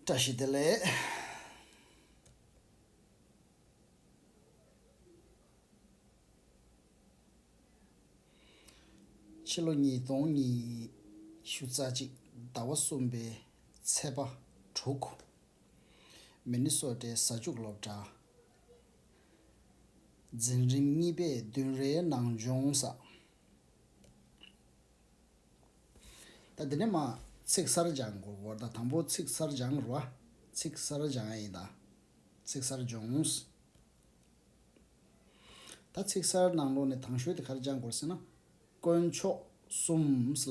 བཀྲ་ཤིས་བདེ་ལེགས། ཕྱི་ལོ་ཉིས་སྟོང་ཉི་ཤུ་རྩ་གཅིག་ཟླ་བ་གསུམ་པའི་ཚེས་པ་དྲུག། མེ་ནི་སོ་ཏའི་གཟའ་བཅུག་སློབ་གྲྭ། འཛིན་རིམ་གཉིས་པའི་བདུན་རེའི་ནང་སྦྱོང་བསགས། ད་འདི་ནས་མ། ཚིག་གསར་སྦྱང་གོ་བོར་ད་དང་པོ་ཚིག་གསར་སྦྱང་རུ་བ། ཚིག་གསར་སྦྱང་ཡིན་ད། ཚིག་གསར་སྦྱོངས། ད་ཚིག་གསར་ནང་ལོགས་ནས་དང་ཤོས་དེ་གར་སྦྱང་གོ་ཟེར་ན། དཀོན་མཆོག་གསུམ་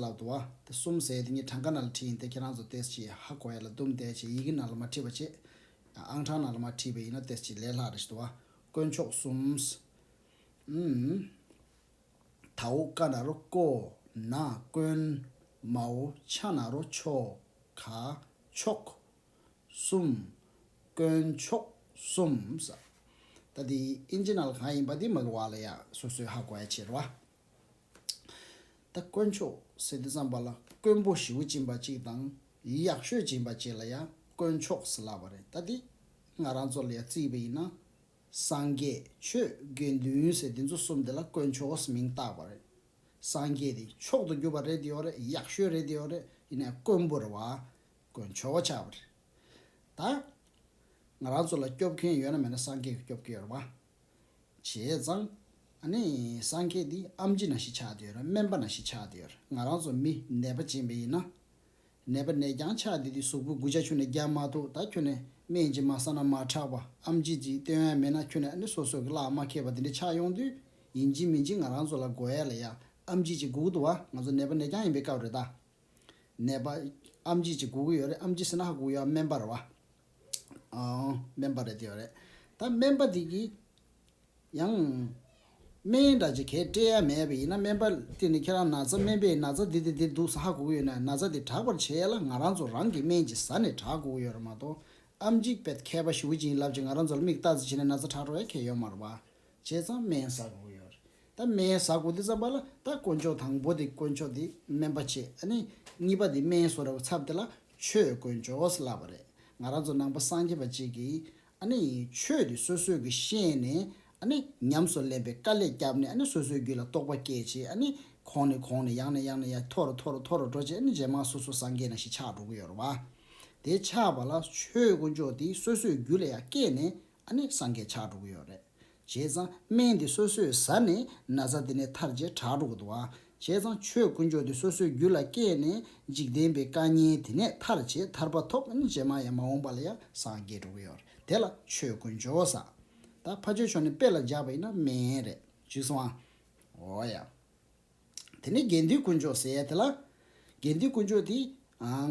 ལབ་དུ་བ། དེ་གསུམ་ཟེར་དེ་གཉིས་གྲངས་ཀ་ནང་ལ་བྲིས་ཡིན་ཏེ་ཁྱེད་རང་ཚོ་ཏེས་ཀྱིས་ཧ་གོ་ཡ་ལ་བསྡུམས་བསྡད་ཅེས་ཡི་གེ་ནང་ལ་མ་བྲིས་པ་ཅེས། ཡང་ཨང་གྲངས་ནང་ལ་མ་བྲིས་པས་ཡིན་ན་ཏེས་ཀྱིས་ལས་སླ་རེ་ཞིག་དུ་བ། དཀོན་མཆོག་གསུམ། དྭོགས་བཀའ་ན་རོ་ཀོ་ན་ཀོན། མའོ་ཆ་ན་རོ་ཆོ་ག་མཆོག། གསུམ། དཀོན་མཆོག་གསུམ། ད་འདི Enginal གང་ཡིན་པ་འདི་མ་གི་བ་ལ་ཡ་སོ་སོའི་ཧ་གོ་ཡ་ཆེ་རུ་བ། ད་དཀོན་མཆོག་ཟེར་འདི་བརྩམས་པ་ལ་དཀོན་པོ་ཞིའུ་ཅིན་པ་ཅིག་དང་ཡག་ཤོས་ཅིན་པ་ཅིག་ལ་ཡ་དཀོན་མཆོག་ཟེར་ལབ་བ་རེད་ད་འདི་ང་རང་ཚོ་ལ་ཡ་རྩིས་པ་ཡིན་ན་སངས་རྒྱས་ཆོས་དགེ་འདུན་ཟེར་དེ་ཚོ་གསུམ་དེ་ལ་དཀོན་མཆོག་ཨོས་མིང་བཏགས་པ་རེད། སངས་རྒྱས་དེ་མཆོག་ཏུ་གྱུར་པ་རེད་དེ་ཡོད་རེད་ཡག་ཤོས་རེད་དེ་ཡོད་རེད་ཡིན་ནས་དཀོན་པོ་རེད་བ། དཀོན་མཆོག་ཆགས་པ་རེད། ད། ང་རང་ཚོ་ལ་སྐྱོབ་མཁན་ཡོད་ན་མེད་ན་སངས་རྒྱས་གི་སྐྱོབ་གི་ཡོད་རེད་བ། བྱས་ཙང། ཨ་ནི་སངས་རྒྱས་དེ་ཨམ་ཅི་ན་ཞིག་ཆགས་དེ་ཡོད་རེད་སྨན་པ་ན་ཞིག་ཆགས་དེ་ཡོད་རེད་ང་རང་ཚོ་མི་ནད་པ་ཅན་བས་ཡིན་ན། ནད་པ་ནས་ཀྱང་ཆགས་དེ་དུས་གཟུགས་པོ་དགུ་ཆ་ཆུ་ནས་རྒྱ་མ་ཐུག་ད་ཁྱོད་ནས་སྨན་གྱིས་མ་ཟ་ན་མ་དྲག་པ་ཨམ་ཅིག་ཅིག་སྟོན་ཨེ་མེད་ན་ཁྱོད་ནས་ཨ་ནི་སོ་སོ་གི་ལག་མ་ཁེགས་པ་དེ་འདྲས་ཆགས་ཡོང་དུས་ཡིན་གྱིན་མིན་གྱིན་ང་རང་ཚོ་ལ་དགོས་ཡ་ལ་ཡ་ཨམ་ཅིག་ཅིག་སྒུག་འདུག་བ་ང་ཚོ་ནད་པ་ནས་ཀྱང་ཡིན་པའི་སྐབས་རེད་ད། ནད་པ། ཨམ་ཅིག་ཅིག་སྒུག་གི་ཡོད་རེད་ཨམ་ཅིག་ཟེར་ན་ཧ་སྒུག་ཡ་སྨན་པར་བ། ཨོ། སྨན་པ་རེད་དེ་ཡོད་རེད་ད་སྨན་པ་དེ་གིས། ཡང། སྨན་ཡིན་འདྲ་ཅེས་གས་སྤྲས་ཡ་མེད་པས་ཡིན་ན་སྨན་པ་དེ་ནི་ཁྱེད་རང་ན་ཚ་སྨན་པས་ན་ཚ་འདི་དང་འདི་འདུག་ས་ཧ་གོ་གི་ཡོད་ན་ན་ཚ་དེ་དྲག་པར་བྱས་ཡ་ལ་ང་རང་ཚོ་རང་གི་སྨན་གྱི་ཟ་ནས་དྲག་གོ་གི་ཡོད་རེད་མ་གཏོགས་ཨ་མཇིག་པད་མཁས་པ་ཞུ་གི་བྱིན་རླབས་ཀྱིས་ང་རང་ཚོ་ལ་མིག་བལྟ་ཙི་བྱས་ནས་ན་ཚ་དྲག་འགྲོ་ཡ་ཁས་ཡོད་མ་རེད་པ། བྱས་ཙང་སྨན་ཟ་གོ་གི་ཡོད་རེད་ད་སྨན་ཟ་གོ་དེ་ཙམ་པ་ལ་ད་དཀོན་མཆོག་དང་པོ་དེ་དཀོན་མཆོག་དེ་སྨན་པ་བྱེད་ཨ་ནི་གཉིས་པ་དེ་སྨན་བཟོ་རེ་བ་ཚབ་དེ་ལ་ཆོས་དཀོན་མཆོག་ལབ་པ་རེད་ང་རང་ཚོ་ནང་པ་སངས་རྒྱས་པ་གཅིག་གིས་ཆོས་དེ་སོ་སོས་ཀྱི་ཤེས་ནས་ཉམས་སུ་ལེན་པའི་དཀའ་ལས་བསྐྱབས་ནས་སོ་སོའི་རྒྱུད་ལ་རྟོགས་པ་སྐྱེད་ཅིང་གོང་ནས་གོང་ནས་ཡང་ནས་ཡང་ནས་ཡང་མཐོ་རུ་མཐོ་རུ་མཐོ་རུ་འགྲོ་ཅིང་རྗེས་མ་སོ་སོ་སངས་རྒྱས་ན་ཞེས་ཆགས་འགྲོ་གི་ཡོད་རེད་བ། དེ་ཆགས་པ་ལ་ཆོས་དཀོན་མཆོག་དེ་སོ་སོའི་རྒྱུད་ལ་ཡང་སྐྱེད་ནས་སངས་རྒྱས་ཆགས་འགྲོ་གི་ཡོད་རེད། བྱས་ཙང་སྨན་འདི་སོ་སོས་ཟ་ནས་ན་ཚ་དེ་ནས་ཐར་བྱེད་དྲག་འགྲོ་དགོས་དོ། བྱས་ཙང་ཆོས་དཀོན་མཆོག་འདི་སོ་སོའི་རྒྱུད་ལ་སྐྱེས་ནས་འཇིག་རྟེན་པའི་བཀའ་ཉན་དེ་ནས་ཐར་བྱེད་ཐར་པ་ཐོབ་བྱེད་མ་ཡང་མ་འོངས་པ་ལ་ཡང་སངས་རྒྱས་འགྲོ་གི་ཡོད་རེད་དེ་ལ་ཆོས་དཀོན་མཆོག་ཟ། ད་ཕ་ཆོས་མཆོག་ནས་དཔེ་ལ་འཇགས་པ་ཡིན་ན་སྨན་རེད། ཅིག་སོང་ཨ། འོ་ཡ། དེ་ནས་དགེ་འདུན་དཀོན་མཆོག་ཟེར་ཡ་དེ་ལ། དགེ་འདུན་དཀོན་མཆོག་དེས།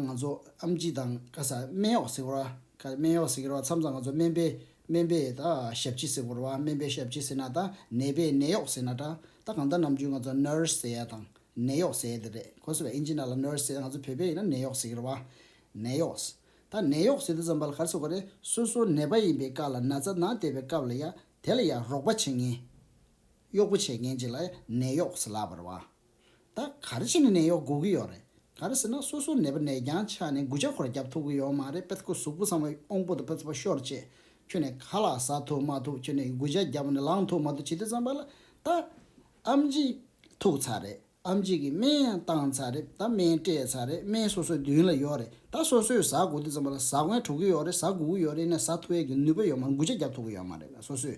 ང་ཚོ་ཨ་མཆིས་དང་ཀ་ས་སྨད་གཡོག་ཟེར་བར་བ། ཀ་སྨད་གཡོག་ཟེར་བར་བ་མཚམས་ཙམ་ང་ཚོ་སྨད་པའི་སྨད་པའི་ད་ཞབས་ཕྱི་ཟེར་བར་བ་སྨད་པའི་ཞབས་ཕྱི་ཟེར་ན་ད་ནད་པའི་ནད་གཡོག་ཟེར་ན་འདྲ་ད་གང་ལྟར་ནམ་རྒྱུན་ང་ཚོ nurse ཟེར་ཡ་དང་ནད་གཡོག་ཟེར་ཡ་དེ་རེད་གོ་སོ་བས་ཨིན་ཇི་ནཱ་ལ nurse ཟེར་ང་ཚོ་བོད་པས་ཡིན་ན་ནད་གཡོག་ཟེར་གི་རེད་བ། ནད་གཡོག། ད་ནད་གཡོག་ཟེར་དུས་ཙམ་པ་ལ་ག་རེ་ཟེར་དགོས་རེད་སོ་སོ་ནད་པ་ཡིན་པའི་བཀའ་ལ་ན་ཚ་ན་བལྟས་པའི་སྐབས་ལ་ཡ་དེ་ལ་ཡ་རོགས་པ་བྱེད་ངེས། གཡོག་པོ་བྱས་མཁན་གཅིག་ལ་ནད་གཡོག་ཟེར་ལབ་པར་བ། ད་ག་རེ་བྱས་ནས་ནད་གཡོག་དགོས་ཀྱི་ཡོད་རེད་ག་རེ་ཟེར་ན་སོ་སོ་ནད་པ་ནད་རྐྱང་ཆགས་ནས་འགུལ་ཆ་ཁོ་ར་རྒྱབ་ཐུབ་ཀྱི་ཡོད་མ་རེད་པད་ཁུ་གཟུགས་པོ་ཚང་བ་ཨོང་པོ་དང་པད་ཚོ་ཤོར་རྗེས་ཁྱོད་ནས་ག་ལ་ཟ་ཐུབ་མ་ཐུབ་ཁྱོད་ནས་འགུལ་ཆ་རྒྱབ་ནས་ལངས་ཐུབ་མ་ཐུབ་བྱེད་དུས་ཙམ་པ་ལ་ད་ཨམ་གཅིག་ཐུག་ཚར་རེད་ཨམ་གཅིག་གིས་སྨན་ཡང་བཏང་ཚར་རེད་ད་སྨན་སྤྲད་ཚར་རེད་སྨན་སོ་སོའི་མདུན་ལ་ཡོད་རེད་ད་སོ་སོས་ཟ་དགོས་དུས་ཙམ་པ་ལ་ཟ་དགོས་འགྲོ་གི་ཡོད་རེད་ཟ་དགོས་ཀྱི་ཡོད་རེད་ནས་ཟ་ཐུབ་ཡས་ཀྱི་ནུས་པ་ཡོད་མ་རེད་འགུལ་ཆ་རྒྱབ་ཐུབ་ཀྱི་ཡོད་མ་རེད་སོ་སོས་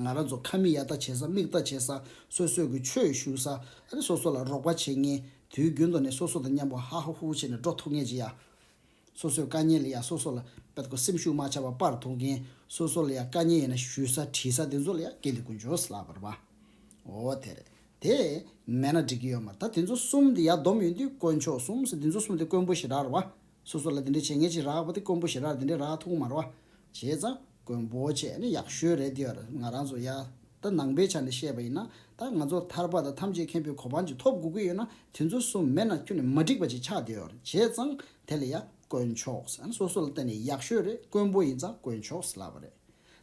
ང་རང་ཚོ་ཁ་མིག་ཡར་ལྟ་བྱེད་ས་མིག་ལྟ་བྱེད་ས་སོ་སོས་ཀྱི་ཆོས་ཞུ་ས་རེད་སོ་སོ་ལ་རོགས་པ་བྱེད་ངེས་དུས་རྒྱུན་དུ་ནས་སོ་སོ་དང་མཉམ་པོ་ཧ་ཧ་ཧུ་ཧུ་བྱེད་ནས་འགྲོ་ཐུབ་ངེས་ཅི་ཡ། སོ་སོས་དཀའ་ཉེ་ལ་ཡང་སོ་སོ་ལ་དཔེ་དགོས་སེམས་ཤུགས་མ་ཆག་པ་པར་ཐུག་མཁན་སོ་སོ་ལ་ཡང་དཀའ་ཉེ་ཡོད་ན་ཞུས་ས་དྲིས་ས་དེ་ཚོ་ལ་ཡང་གལ་ཏེ་ཀུན་ཆོས་ལགས་པར་བ་འོ་དེ་རེད་དེ་མེད་ན་འགྲིག་གི་ཡོད་མ་རེད་ད་དེ་ཚོ་གསུམ་དེ་ཡར་བསྡོམས་ཡོད་དུས་དཀོན་མཆོག་གསུམ་ཟེར་དེ་ཚོ་གསུམ་དེ་དཀོན་པོ་ཞིག་རག་ར་བ་སོ་སོ་ལ་དེ་འདྲའི་བྱེད་ངན་ཅིག་རག་པ་དེ་དཀོན་པོ་ཞེ་རག་དེ་འདྲའི་རག་ཐུག་མར་བ། བྱས་ཙང་དཀོན་པོ་བྱས་ནི་ཡག་ཤོས་རེད་དེ་ཡར་ང་རང་ཚོ་ཡ། ད་ནང་པའི་ཆ་ནས་བཤད་པ་ཡིན་ན་ད་ང་ཚོར་ཐར་པ་དང་ཐམས་ཅད་མཁན་པོའི་གོ་འཕང་ཅིག་ཐོབ་དགོས་ཀྱི་ཡོད་ན་དེ་ཚོ་གསུམ་མེད་ན་ཁྱོད་ནི་མ་འགྲིག་པ་ཅིག་ཆགས་དེ་ཡར་བྱས་ཙང་དེ་ལ་ཡ་དཀོན་མཆོགས་ཡང་སོ་སོ་ལ་བརྟེན་ནས་ཡག་ཤོས་རེད་དཀོན་པོ་ཡིན་ཙང་དཀོན་མཆོགས་ལབ་པ་རེད།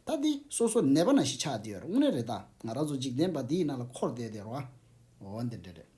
ད་དེ་སོ་སོ་ནད་པ་ན་ཞིག་ཆགས་དེ་ཡར་དངོས་གནས་རེད་ད་ང་རང་ཚོ་འཇིག་རྟེན་པ་འདིའི་ནང་ལ་འཁོར་བསྡད་དེ་ཡར་བ། འོ་འདི་འདྲ་རེད།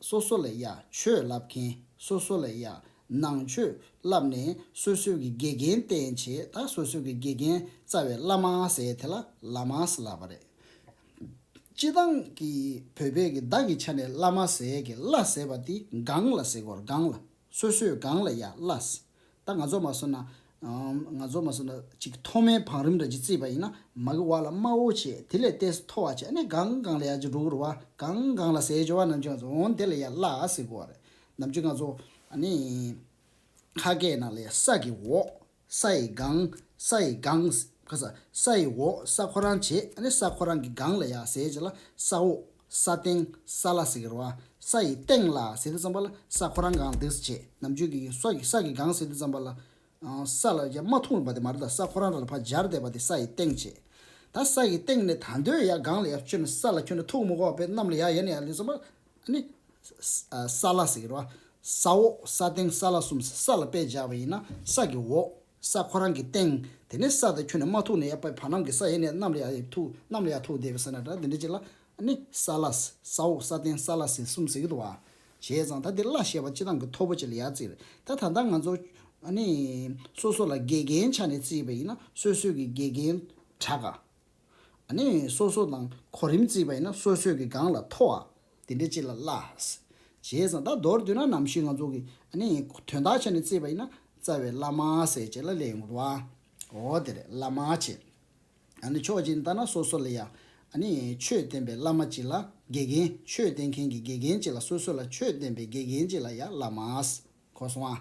སོ་སོ་ལ་ཡང་ཆོས་བསླབ་མཁན་སོ་སོ་ལ་ཡང་ནང་ཆོས་བསླབ་ནས་སོ་སོའི་གི་དགེ་རྒན་བསྟེན་བྱེད་ད་སོ་སོའི་གི་དགེ་རྒན་རྩ་བའི་བླ་མ་ཟེར་དེ་ལ་ལ་མ་ཟེར་ལབ་པ་རེད། སྤྱི་དང་གི་བོད་པས་གི་བདག་གི་ཆ་ནས་བླ་མ་ཟེར་གི་བླ་ཟེར་བ་དེ་སྒང་ལ་ཟེར་གོར་སྒང་ལ་སོ་སོའི་སྒང་ལ་ཡང་བླ་ད་ང་ཚོ་མ་བཟོ་ན། ང་ཚོ་མ་བཟོ་ན་ཅིག་མཐོ་དམན་བང་རིམ་རེ་གཅིག་བརྩིས་པ་ཡིན་ན་མ་གི་བ་ལ་དམའ་བོ་བྱས་དེ་ལས་བརྟན་ས་མཐོ་བ་བྱས་ནས་གང་གང་ལ་ཡ་ཅིག་འགྲོ་གི་རུ་བ་གང་གང་ལ་ཟས་འཇོ་བ་ནམ་ཅིག་འོང་དེ་ལ་ཡ་བླ་ཟེར་གི་བ་རེད་ནམ་ཅིག་ང་ཚོ་ཨ་ནི། ཁ་སྐད་ནང་ལ་ཡ་ས་གི་འོག་ས་ཡི་སྒང་ས་ཡི་སྒང་ས་ཡི་འོག་ས་ཁོ་རང་བྱས་ཨ་ནི་ས་ཁོ་རང་གི་སྒང་ལ་ཡ་ཟས་བྱས་ལ་ས་འོག་ས་སྟེང་ས་ལ་ཟེར་བ་ས་ཡི་སྟེང་ལ་ཟེར་དུ་བརྩམས་པ་ལ་ས་ཁོ་རང་གང་འདི་ཞེས་ནམ་རྒྱུན་གྱི་ས་ཀྱི་ས་ཀྱི་གང་ཟེར་དུ་བརྩམས་པ་ལ། ས་ལ་ཡང་མ་ཐུང་བའི་བར་དེ་མ་རུ་དང་ས་ཁོ་རང་ར་ལ་བར་སྦྱར་བསྡད་པ་དེ་ས་ཡི་སྟེང་ཞེས། ད་ས་ཡི་སྟེང་ནས་ད་འདོད་ཡང་གང་ལ་ཡང་ཁྱོད་ནི་ས་ལ་ཁྱོད་ནི་ཐུག་མི་གོ་བས་གནམ་ལ་ཡང་ཡལ་ནས་ཡལ་ལུས་བརྩམས་པ་ནི། ས་ལ་ཟེར་བ་ས་འོག་ས་སྟེང་ས་ལ་གསུམ་ས་ལ་དཔེ་སྦྱར་བ་ཡིན་ན་ས་ཀྱི་འོག། ས་ཁོ་རང་གི་སྟེང། དེ་ནས་ས་དེ་ཁྱོད་ནས་མ་ཐུག་ན་ཡ་དཔེ་བར་སྣང་གི་ས་ཡེ་ནས་གནམ་ལ་ཡ་ཡིས་ཐུག་གནམ་ལ་ཡ་ཐུག་བསྡད་པའི་ས་ན་དྲ་འདི་འདྲ་གཅིག་ལ་ནི་ས་བླ། ས་འོག་ས་སྟེང་ས་བླ་ཟེར་གསུམ་ཟེར་གྱི་འདུག་བ། བྱས་ཙང་ད་འདིར་བླ་ཞེས་པ་སྤྱི་བཏང་གི་མཐོ་པོ་ཅིག་ལ་ཡ་བརྩིས། ད་ད་ལྟ་ང་ཚོ། ནི། སོ་སོ་ལ་དགེ་རྒན་ཆ་ནས་བརྩིས་པ་ཡིན་ན་སོས་སོས་ཀྱི་དགེ་རྒན། གྲགས། ནི་སོ་སོ་དང་གོ་རིམ་བརྩིས་པ་ཡིན་ན་སོ་སོས་ཀྱི་སྒང་ལ་མཐོ་བ། དེ་འདྲའི་སྤྱི་ལ་བླ། ཞེས་དང་ད་མདོར་བསྡུ་ན་ནམ་ཞིག་ང་ཚོ་གི། ནི་དོན་དག་ཆ་ནས་བརྩིས་པ་ཡིན་ན་རྩ་བའི་བླ་མ་ཟེར་བྱས་ལ་ལས་ཡོང་བ། འོ་དེ་རེད་བླ་མ་ཆེ། ནི་ཕྱོགས་གཅིག་ནས་བལྟ་ན་སོ་སོ་ལ་ཡ། ནི་ཆོས་བསྟན་པའི་བླ་མ་སྤྱི་ལ་དགེ་རྒན་ཆོས་བསྟན་མཁན་གྱི་དགེ་རྒན་སྤྱི་ལ་སོ་སོ་ལ་ཆོས་བསྟན་པའི་དགེ་རྒན་སྤྱི་ལ་ཡ་བླ་མ། གོ་སོང་ཨ།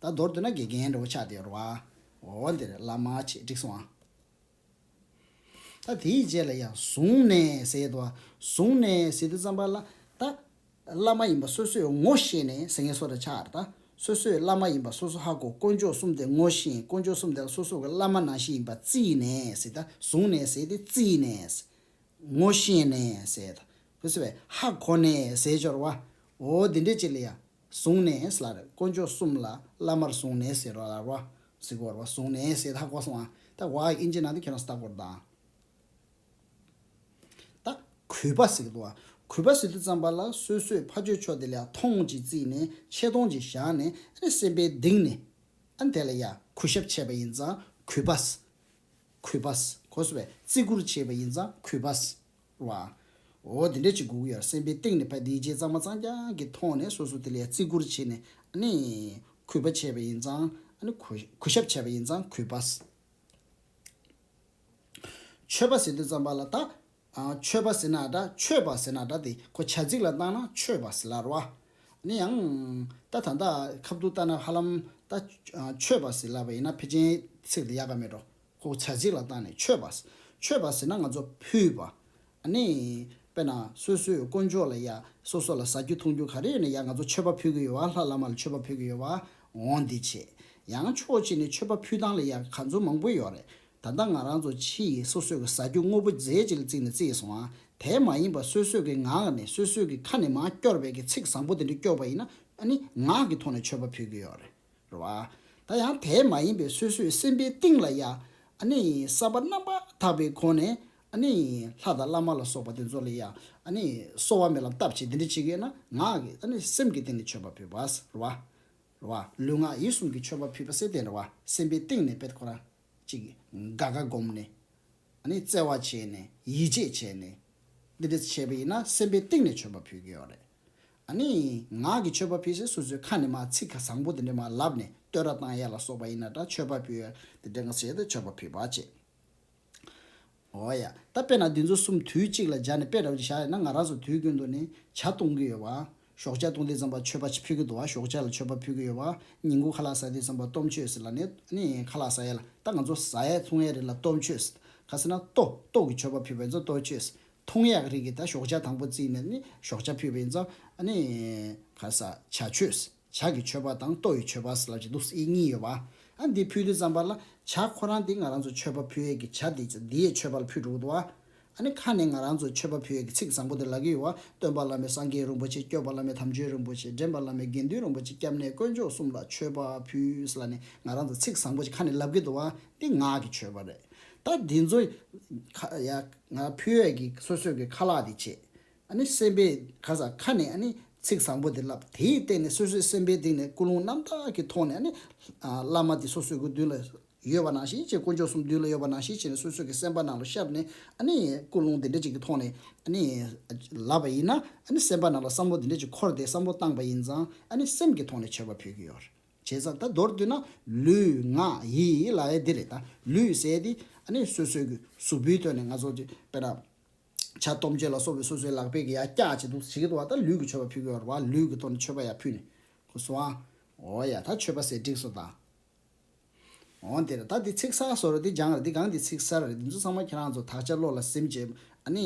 ད་མདོར་བསྡུ་ན་དགེ་རྒན་འདྲ་བོ་ཆགས་བསྡད་རོགས། འོ་དེ་རེད་བླ་མ་ཆེ་འགྲིག་སོང་ཨ། ད་དེའི་རྗེས་ལ་ཡང་བཟུང་ནས་ཟེར་དུ་བཟུང་ནས་ཟེར་དུ་བརྩམས་པ་ལ་ད་བླ་མ་ཡིན་པ་སོ་སོས་ངོ་ཤེས་ནས་ཟེར་ངེས་སོ་ར་ཆ་ཨར་ད་སོ་སོས་བླ་མ་ཡིན་པ་སོ་སོ་ཧ་གོ་དཀོན་མཆོག་གསུམ་དེ་ངོ་ཤེས་དཀོན་མཆོག་གསུམ་དེ་ལ་སོ་སོ་གི་བླ་མ་ནང་བཞིན་ཡིན་པ་བརྩིས་ནས་ཟེར་ད་བཟུང་ནས་ཟེར་དེ་བརྩིས་ནས་ངོ་ཤེས་ནས་ཟེར་ད་བུ་སེ་བས་ཧ་གོ་ནས་ཟེར་སྦྱོར་བ་འོ་དེ་འདྲས་ཅིག་ལ་ཡང། བཟུང་ནས་ལར་དཀོན་མཆོག་གསུམ་ལ་བླ་མར་བཟུང་ནས་ཟེར་བ་ལར་བ་ཟི་གོར་བ་བཟུང་ནས་ཟེར་ད་གོ་སོང་ཨ། ད་བ་ཨིན་ཇི་ནང་དུ་ཁྱོད་རང་ཟ་གོར་དང། ད་གུས་པ་ཟིག་ཏུ་ཨ། གུས་པ་ཟིག་ཏུ་བརྩམས་པ་ལ་སོས་སོས་ཕ་ཆོས་ཆོས་དེ་ལས་ཨ་ཐོང་ཅིག་བརྩིས་ནས་ཆས་ཐོང་ཅིག་བཞག་ནས་རེ་སེམས་པའི་གདིང་ནས་ཨ་དེ་ལ་ཡ་གུས་ཞབས་ཆས་པ་ཡིན་ཙང་གུས་པ། གུས་པ། གོ་སོང་བས་བརྩི་བཀུར་བྱས་པ་ཡིན་ཙང་གུས་པ། བ། འོ་དེ་འདྲས་ཅིག་སྒུག་ཡར་སེམས་པའི་སྟེང་ནས་ཕ་དེའི་རྗེས་གཙང་མ་གཙང་རྐྱང་གིས་མཐོང་ནས་སོ་སོ་དེ་ལས་བརྩི་བཀུར་བྱས་ནས་ཨ་ནི། གུས་པ་བྱས་པ་ཡིན་ཙང་ཨ་ནི། གུས་ཞབས་བྱས་པ་ཡིན་ཙང་གུས་པ། ཆོས་པ་ཟེར་དུས་ཙམ་པ་ལ་བལྟ། ཆོས་པ་ཟེར་ན་འདྲ་ཆོས་པ་ཟེར་ན་འདྲ་དེ་ཁོ་བྱ་ཚིག་ལ་བཏང་ན་ཆོས་པ་ཟེར་སླར་བ། ཨ་ནི་ཡང། ད་ད་ད་ཁབ་ཏུ་བལྟ་ན་ཧ་ལམ་ད། ཆོས་པ་ཟེར་སླ་བ་ཡིན་ན་ཕལ་ཆེན་ཚིག་དེ་ཡག་ག་མེད་འགྲོ། ཁོ་བོ་བྱ་གཅིག་ལ་བཏང་ནས་ཆོས་པ། ཆོས་པ་ཟེར་ན་ང་ཚོ་ཕུད་པ། ནི། དཔེར་ན་སོ་སོའི་དཀོན་མཆོག་ལ་ཡ། སོ་སོ་ལ་ཟ་རྒྱུ་འཐུང་རྒྱུ་ག་རེ་ཡོད་ན་ཡ་ང་ཚོ་ཆོས་པ་ཕུད་གི་ཡོད་བ་ལྷ་བླ་མ་ལ་ཆོས་པ་ཕུད་གི་ཡོད་བ། འོང་འདི་བྱེད། ཡང་ཕྱོགས་གཅིག་ནས་ཆོས་པ་ཕུད་སྟངས་ལ་ཡ་ག་ཚོད་མང་པོ་ཡོད་རེད། ད་ལྟ་ང་རང་ཚོ་ཕྱི་ཡི་སོ་སོས་གི་ཟ་རྒྱུ་དངོས་པོ་རྫས་གཅིག་ལ་བརྩིས་ནས་བརྩིས་སོང་ཨ། དེ་མ་ཡིན་པར་སོ་སོས་གི་ངག་ནས་སོ་སོས་གི་ཁ་ནས་མ་སྐྱོར་བས་གི་ཚིག་བཟང་པོ་དེ་འདྲ་སྐྱོར་བ་ཡིན་ན། ནི། ངག་གི་ཐོག་ནས་ཆོས་པ་ཕུད་གི་ཡོད་རེད། རེད་བ། ད་ཡང་དེ་མ་ཡིན་པའི་སོ་སོའི་སེམས་པའི་གཏིང་ལ་ཡང་ཨནི་ས་པ་རྣམ་པར་དག་པའི་སྒོ་ནས་ཨནི་ལྷ་དང་བླ་མ་ལ་སོགས་པ་དེ་ཚོ་ལ་ཡང་ཨནི་གསོ་བ་མེད་ལམ་བཏབ་བྱེད་དེ་འདྲ་བྱེད་མཁན་ན་ངག་གིས་ཨནི་སེམས་ཀྱི་སྟེང་ནས་མཆོད་པ་ཕུལ་བ། རེད་བ། རེད་བ། ལུས་ངག་ཡིད་གསུམ་གྱི་མཆོད་པ་ཕུལ་བ་སེ་དེ་འདྲ་བ་སེམས་པའི་གཏིང་ནས་པད་ཁོ་རང་ཅིག་ག་ག་བསྒོམས་ནས་ཨནི་བརྩེ་བ་བྱས་ནས་ཡིད་ཆེས་བྱས་ནས་འདི་འདྲ་བྱས་པ་ཡིན་ན་སེམས་པའི་གཏིང་ནས་མཆོད་པ་ཕུལ་གྱི་ཡོད་རེད། ཨ་ནི། ངག་གི་མཆོད་པ་ཕུལ་ཚེ་སོ་སོའི་ཁ་ནས་མ་ཚིག་ག་བཟང་པོ་དེ་འདྲ་མ་ལབ་ནས་བསྟོད་ར་བཏང་ཡ་ལ་སོགས་པ་ཡིན་ན་འདྲ་མཆོད་པ་ཕུལ་ཡ་དེ་འདྲ་ང་བྱས་ཏེ་མཆོད་པ་ཕུལ་བ་བྱས། འོ་ཡ། ད་དཔེར་ན་འདི་ཚོ་གསུམ་དུས་གཅིག་ལ་སྦྱར་ནས་དཔེ་ར་བ་ཅིག་བཞག་ཡོད་ན་ང་རང་ཚོ་དུས་ཀུན་ཏུ་ནི་བྱ་གཏོང་གི་ཡོད་བ། ཞོགས་ཇག་གཏོང་དུས་ཙམ་པ་མཆོད་པ་ཅིག་ཕུལ་གི་འདུག་བ་ཞོགས་ཇག་ལ་མཆོད་པ་ཕུལ་གི་ཡོད་བ། ཉིན་གུང་ཁ་ལག་ཟ་དུས་ཙམ་པ་སྟོབས་མཆོད་ཟེར་ལ་ནི་ཨ་ནི། ཁ་ལག་ཟ་ཡ་ལ་ད་ང་ཚོ་ཟ་ཡ་འཐུང་ཡ་རེད་ལ་སྟོབས་མཆོད་ཟེར། ཁ་ཟེར་ན་ལྟོ་ལྟོགས་ཀྱི་མཆོད་པ་ཕུལ་བ་ཡིན་ཚོ་སྟོབས་མཆོད་ཟེར། མཐོང་ཡག་རིགས་ཀྱི་ད་ཞོགས་ཆ་དང་པོ་བརྩིས་ནས་ནི་ཞོགས་ཆ་ཕུད་པའི་ཡིན་ཙང་ནི། ཕ་ས་བྱ་མཆོད། བྱ་གི་མཆོད་པ་དང་ལྟོ་ཡི་མཆོད་པ་ཟེར་ལབ་ཅིག་འདུག་ཨི་གཉིས་ཡོད་བ། ཨ་འདི་ཕུལ་དུས་བརྩམས་པ་ལ་བྱ་ཁོ་རང་དེ་ང་རང་ཚོ་མཆོད་པ་ཕུལ་ཡས་ཀྱི་བྱ་དེ་ཚོ་འདི་ཡས་མཆོད་པ་ལ་ཕུལ་འགྲོ་གི་འདུག་བ། ཨ་ནི་ཁ་ནས་ང་རང་ཚོ་མཆོད་པ་ཕུལ་ཡས་ཀྱི་ཚིག་བཟང་པོ་དེ་ལབ་ཀྱི་ཡོད་བ་སྟོན་པ་བླ་མའི་སངས་རྒྱས་རིན་པོ་ཆེ་སྐྱོབ་པ་བླ་མའི་དམ་ཆོས་རིན་པོ་ཆེ་འདྲེན་པ་བླ་མའི་དགེ་འདུན་རིན་པོ་ཆེ་སྐྱབས་གནས་དཀོན་མཆོག་གསུམ་ལ་མཆོད་པ་ཕུལ་ཟེར་ལ་ནི་ང་རང་ཚོ་ཚིག་བཟང་པོ་ཞིག་ཁ་ནས་ལབ་ཀྱི་འདུག་བ་འདི་ངག་གི་མཆོད་པ་རེད་ད་འདི་ཚོ། ཡ། ང་ཕོའི་བས་ཀྱི་སོ་སོས་ཀྱི་ཁ་ལག་དེ་བྱས། ཨ་ནི་སེམས་པས་ག་ས་ཁ་ནས་ཨ་ནི་ཚིག་བཟང་པོ་དེ་བསླབས་དེའི་སྟེང་ནས་སོ་སོའི་སེམས་པའི་སྟེང་ནས་ཀུན་སློང་རྣམ་དག་གི་ཐོག་ནས་ཨ་ནི། བླ་མ་དེ་སོ་སོའི་གི་མདུན་ལ་ཡོད་པ་ནང་བཞིན་བྱས་དཀོན་མཆོག་གསུམ་མདུན་ལ་ཡོད་པ་ནང་བཞིན་བྱས་ནས་སོ་སོའི་གི་སེམས་པ་ནང་ལ་ཤར་ནས་ཨ་ནི། ཀུན་སློང་དེ་འདྲ་ཅིག་གི་ཐོག་ནས་ཨ་ནི། ལབ་པ་ཡིན་ན་ཨ་ནི་སེམས་པ་ནང་ལ་བསམ་བློ་དེ་འདྲ་ཅིག་འཁོར་ཏེ་བསམ་བློ་བཏང་པ་ཡིན་ཙང་ཨ་ནི་སེམས་ཀྱི་ཐོག་ནས་བྱས་པ་ཕོད་ཀྱི་ཡོད། བྱས་ཙང་ད་མདོར་བསྡུ་ན་ལུས་ངག་ཡིད་ལ་ཨེ་འདི་རེད་ད་ལུས་ཟད་དེ་ཨ་ནི་སོ་སོའི་གཟུགས་པོའི་དོན་ནི་ང་ཚོ་ཅེས་པས་ན། བྱ་སྟོབས་འཇལ་ལ་སོགས་པའི་སོ་སོའི་ལག་པས་ཀྱིས་ཡང་སྐྱག་བྱེད་དུ་བྱེད་ཀྱི་འདུག་བ་ད་ལུས་ཀྱི་མཆོད་པ་ཕུལ་དགོས་བ་རེད་བ་ལུས་ཀྱི་ཐོག་ནས་མཆོད་པ་ཡང་ཕུལ་ནས་གུ་སོང་ཨ། འོ་ཡ་ད་མཆོད་པ་ཟེར་སྒྲིག་སོ་ད། འོ་འདི་རེད་ད་འདི་ཚིག་གསར་བཟོ་རེད་འདི་སྦྱང་རེད་འདི་གང་འདི་ཚིག་གསར་རེད་འདི་ཚོ་ཚང་མ་ཁྱེད་རང་ཚོ་དག་ཆ་བློ་ལ་སིམ་རྗེས་ཨ་ནི།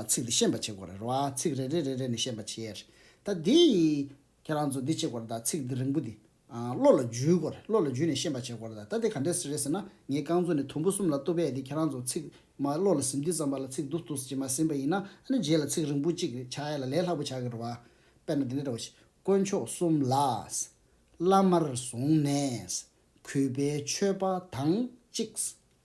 ཚིག་འདི་ཤེས་པ་བྱེད་དགོས་རེད་བ་ཚིག་རེ་རེ་རེ་རེ་ནས་ཤེས་པ་བྱེད་ཡས་རེད་ད་འདི་ཡི། ཁྱེད་རང་ཚོ་འདི་བྱེད་དགོས་རེད་ད་ཚིག་འདི་རིང་པོ་འདི། བློ་ལ་འཇུས་དགོས་རེད་བློ་ལ་འཇུས་ནས་ཤེས་པ་བྱེད་དགོས་རེད་ད་ལྟ་འདི་ག་འདྲས་ཟེར་རེད་ཟེར་ན་ངའི་རྐང་མཛོད་ནས་དུམ་བུ་གསུམ་ལ་གཏུབ་པས་དེ་ཁྱེད་རང་ཚོ་ཚིག་མ་བློ་ལ་ཟིན་དུས་ཙམ་པ་ལ་ཚིག་འདུག་འདུག་ཟེར་གྱི་མ་ཟིན་པ་ཡིན་ན་ཨ་ནི་རྗེས་ལ་ཚིག་རིང་པོ་གཅིག་རེ་བྱ་ཡ་ལ་ལས་ལྷག་པོ་བྱ་གི་རེད་བ། དཔེར་ན་འདི་འདྲ་རེད་བ། དཀོན་མཆོག་གསུམ་ལ། བླ་མར་བཟུང་ནས། གུས་པའི་མཆོད་པ་དང་གཅིག།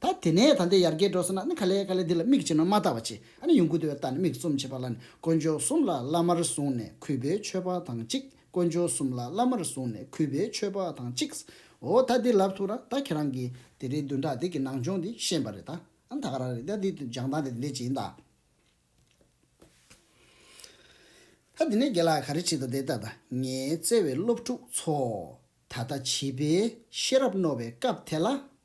ད་དེ་ནས་ད་འདི་ཡར་རྒྱས་འགྲོ་ཟེར་ན་ནི་ག་ལེ་ག་ལེ་འདི་ལ་མིག་ཅིག་ནོར་མ་བལྟ་བ་ཅི་ཨ་ནི་ཡུངས་ཀུན་བདེ་བའི་རྟགས་ནི་མིག་བཙུམ་བྱེད་པ་ལ་ནི་དཀོན་མཆོག་གསུམ་ལ་བླ་མར་བཟུང་ནས་གུས་པས་མཆོད་པ་དང་གཅིག་དཀོན་མཆོག་གསུམ་ལ་བླ་མར་བཟུང་ནས་གུས་པས་མཆོད་པ་དང་གཅིག་ཨོ་ད་འདི་ལབ་ཐུབ་ན་ད་ཁྱེད་རང་གིས་དེ་རིང་བདུན་ཕྲག་འདི་གི་ནང་སྦྱོང་འདི་ཤེས་པ་རེད་ད་ཨ་ནི་ད་ག་རང་རེད་ད་འདི་སྦྱང་སྟངས་དེ་འདི་ཅི་ཡིན་ད། ད་འདི་ནས་རྒན་ལགས་ག་རེ་བྲིས་འདུག་འདི་ལྟ་ད་ངའི་བརྩེ་བའི་སློབ་ཕྲུག་ཚོ། ད་ལྟ་བྱིས་པའི་ཤེས་རབ་རྣོ་བའི་སྐབས་དེ་ལ